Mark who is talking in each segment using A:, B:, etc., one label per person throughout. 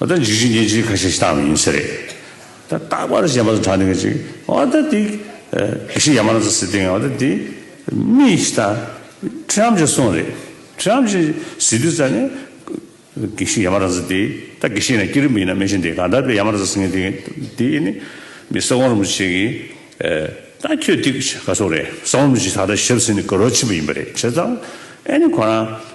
A: ཨོ་ད་འཇིགས་བྱེད་རྒྱལ་སྤྱིའི་ཁ་ཤས་ཤི་སྟག་མི་ཡིན་ཟེར་རེད། ད་རྟག་པར་གཞན་པ་ཚོ་དྲག་འདི་ག་ཅིག་ཨོ་ད་འདི། གེགས་ཤིག་ཡ་མ་ར་ཚ་སི་ཏིང་ཨོ་ད་འདི། མི་ཤི་ད། ཁྲི་རམ་ཅེ་སོང་རེད། ཁྲི་རམ་ཅེ་སི་དུས་ཙ་ནི། གེགས་ཤིག་ཡ་མ་ར་ཚ་འདི། ད་གེགས་ཤིག་ཡིན་ན་སྐྱིད་རིམ་པོ་ཡིན་ན་མི་ཤི་འདི་ག་ད་པའི་ཡ་མ་ར་ཚ་སི་ངན་འདི་འདི་ནི། མི་ས་གོང་རིན་པོ་ཆེ་གིས། ད་ཁྱོད་འདི་ག་ཚོགས་རེད་ས་གོང་རིན་པོ་ཆེ་ད་ད་ཞབས་སེ་ནི་ག་རོ་ཆེན་པོ་ཡིན་པ་རེད་བྱས་ཙང། ཨེ་ནི་ཁོ་རང།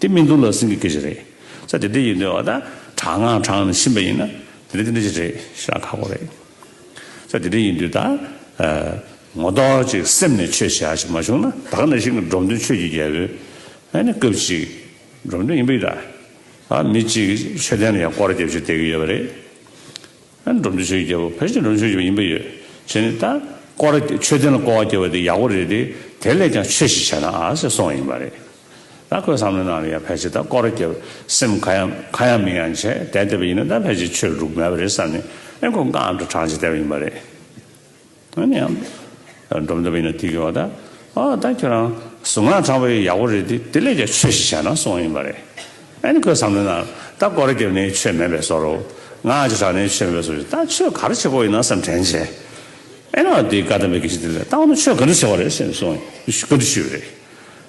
A: དེ་སྨིན་དུ་ལ་སིང་གི་སྐད་ཅིག་རེད། ས་དེ་དེ་ཡིན་དོན་ཨ་ད་དྲག་ང་དྲག་ནས་ཕྱིན་པ་ཡིན་ན་དེ་དེ་འདི་ཅིག་རེད་ཞེས་ཨ་ཁ་གོ་རེད། ས་དེ་དེ་ཡིན་དུས་ད་ངོ་ཏོག་ཅིག་སེམས་ནས་ཆོས་བྱ་ཞིག་མ་བྱུང་ན་ད་ག་ནས་ཤིག་གི་འབྲོམ་སྟོན་ཆོས་ཀྱི་རྒྱལ་པོའི་ཨ་ནི་སྐབས་ཅིག་འབྲོམ་སྟོན་ཡིན་པ་ཡིན་ད་ཨ་མི་གཅིག་གིས་ཆོས་བསྟན་ན་ཡང་སྐོར་རྒྱབ་ཅིག་བསྡད་ཀྱི་ཡོད་པ་རེད། ཨ་ནི་འབྲོམ་སྟོན་ཆོས་ཀྱི་རྒྱལ་པོ་ཕལ་ཆེར་འབྲོམ་ཆོས་ཀྱི་བ་ཡིན་པ་ཡོད་བྱས་ནས་ད་སྐོར་ཆོས་བསྟན་ལ་སྐོར་བ་བརྒྱབ་པ་དེ་ཡག་པོ་རེད་དེ་དེ་ལས་ཀྱང་ཆོས་ཤིག་བྱས་ན་ཨ་ཟེར་སོང་བ་ཡིན་པ་རེད། ད་ཁོས་བསམ་བློ་གནང་ན་ཡང་ཕལ་ཆེར་ད་སྐོར་རྒྱབ་སེམས་ཁ་ཡང་ཁ་ཡང་མིག་ཡང་ཆད་དེ་བསྡད་པ་ཡིན་ན་ད་ཕལ་ཆེར་ཆོས་ལུགས་མེད་པ་རེད་བསམ་ནས་ཨེ་ཁོ་འགའ་ཨ་མདོ་དྲངས་བྱས་བསྡད་པ་ཡིན་པ་རེད། ཨ་ནི་ཨ་མདོ་འགྲོ་འདོད་པ་ཡིན་ན་དེ་གོ་ཨོ་ད་ཨོ་ད་ཁྱོད་རང་གཟུགས་ངག་དྲངས་པ་ཡག་པོ་རེད་དེ་དེ་ལས་ཀྱང་ཆོས་ཞིག་བྱ་ན་སོང་ཡིན་པ་རེད། ཨ་ནི་ཁོས་བསམ་བློ་གནང་ད་སྐོར་རྒྱབ་ནས་ཆོས་མེད་པའི་བཟོ་རོ་ངག་ཅིག་དྲངས་ནས་ཆོས་མེད་པའི་བཟོ་ཞིག་ད་ཆོས་ག་རེ་བྱེད་དགོས་ཡིན་ན་བསམ་དྲན་བྱེད་ཨེ་ན་ཨོ་དེ་ག་དམ་པའི་གེགས་ཞིག་དེ་ལས་ད་འོ་ན་ཆོས་ག་འདྲ་བྱེད་དགོས་རེད་བསམ་ནས་སོང་ག་འདྲ་ཞུས་པ་རེད།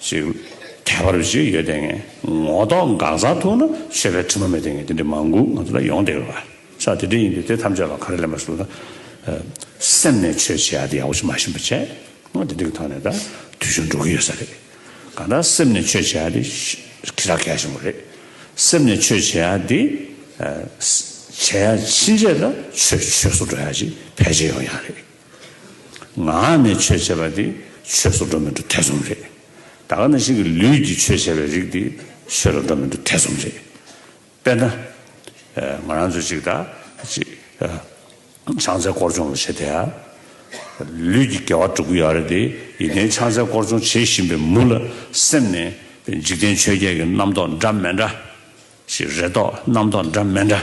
A: ཞིག་ཁྱད་པར་བ་ཞིག་ཡོད་དེ་ངས་ངོ་ཐོག་འགག་རྩ་ཐུག་ན་ཤེས་པའི་དྲི་མ་མེད་དེ་ངས་དེ་འདྲའི་མང་པོ་ང་ཚོ་ལ་ཡོང་བསྡད་ཡོད་པ་ཤག་དེ་འདྲ་ཡིན་དུས་དེ་ཐམས་ཅད་ལ་ཁ་རས་ལེན་པ་ཞུ་ན་སེམས་ནས་ཆོས་བྱེད་ཡག་དེ་ཡག་པོ་ཞིག་མ་ཤེས་པ་བྱས་ང་དེ་འདྲ་གི་ཐོག་ནས་ད་དུས་ཆུང་འགྲོ་གི་ཡོད་ས་རེད་གང་ལྟར་སེམས་ནས་ཆོས་བྱེད་ཡག་དེ་ཁྱེད་ཅག་གལ་ཆེན་པོ་རེད་སེམས་ནས་ཆོས་བྱེད་ཡག་དེ་བྱེད་ཡག་ཕྱིན་ཆད་ད་ཆོས་ཆོས་སུ་འགྲོ་ཡག་ཅིག་ཕལ་ཆེར་ཡོང་ཡག་རེད། ངག་ནས་ཆོས་བྱེད་པ་དེ་ཆོས་སུ་འགྲོ་མི་འགྲོ་ཐེ་ཚོམ་རེད། ད་ག་ན་ཞིག་གིས་ལུས་ཀྱིས་ཆོས་བྱེད་པའི་རིགས་དེ་ཆོས་ལ་འགྲོ་མི་འགྲོ་ཐེ་ཚོམ་རེད། དཔེར་ན། ང་རང་ཚོ་ཅིག་ད་ཅིག་ཆང་རྩལ་སྐོར་སྦྱོང་ལ་བྱེད་བསྡད་ཡ། ལུས་ཀྱི་དགེ་བ་བསྒྲུབ་གི་ཡོད་རེད་དེ་ཡིན་ནའི་ཆང་རྩལ་སྐོར་སྦྱོང་བྱེད་བཞིན་པའི་མུ་ལ་སེམས་ནས་འཇིག་རྟེན་ཆོས་བརྒྱད་ཀྱི་རྣམ་རྟོག་འདྲ་མེད་འདྲ་ཞིག་རེ་དོགས་རྣམ་རྟོག་འདྲ་མེད་འདྲ།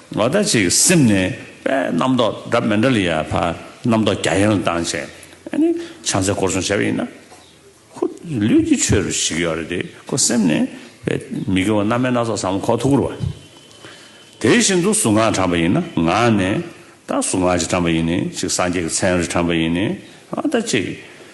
A: ལོ་ཟླ་གཅིག་སིམ་ནས་པས་རྣམ་རྟོག་དགྲ་མེ་འདྲ་ལི་ཡ་བར་རྣམ་རྟོག་རྒྱ་ཡན་ལ་བཏང་བྱས་ནས་ཕྱག་འཚལ་བསྐོར་སྲུང་བྱས་པ་ཡིན་ན། ཁོ་ལུས་ཀྱི་ཆོས་རུ་ཞིག་ཡོད་རེད་དེ་ཁོ་སེམས་ནས་པས་མི་དགེ་བ་རྣམ་སྨིན་སྣ་ཚོགས་བསམ་ཁོག་ཐུགས་ཁུར་བ། དེ་བཞིན་དུ་གཟུངས་སྔགས་དྲངས་པ་ཡིན་ན་ངག་ནས་ད་གཟུངས་སྔགས་ཅིག་དྲངས་པ་ཡིན་ནི་ཅིག་སངས་རྒྱས་ཀྱི་མཚན་རེ་དྲངས་པ་ཡིན་ནི་ད་ཅིག།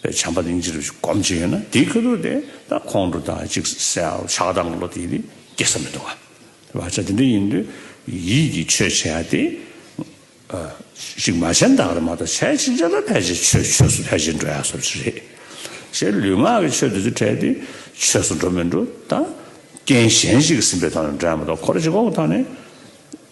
A: པའི་བྱམས་པ་གླིང་རྗེ་རུ་སྒོམ་བྱེད་ཡོད་ན་དེའི་ཁ་ཐུག་དེ་དང་ཁོང་ཁྲོ་དང་གཅིག་སེལ་ཆགས་སྡང་གི་བློ་དེ་ཡིད་སྐྱེ་ས་མི་འདུག་ག་བ་ཅག་དེ་འདྲ་ཡིན་དུས་ཡིད་ཀྱིས་ཆོས་བྱེད་ཡ་དེ། ཞིག་མ་བྱས་འདག་རེད་མ་གཏོགས་བྱས་ཕྱིན་ཆད་ལ་ཕལ་ཆེར་ཆོས་ཆོས་སུ་ཕལ་ཆེར་འགྲོ་ཡ་ས་བྱི་རེད། ཞེས་ལུས་ངག་གི་ཆོས་དེ་ཚོ་བྲལ་ཏེ་ཆོས་སུ་འགྲོ་མི་འགྲོ་དང། རྐྱེན་གཞན་ཞིག་གིས་ཟིན་པའི་ཐོག་ནས་འགྲོ་ཡ་མ་གཏོགས་ཁོ་ར་ཇི་གོ་གི་ཐོག་ནས།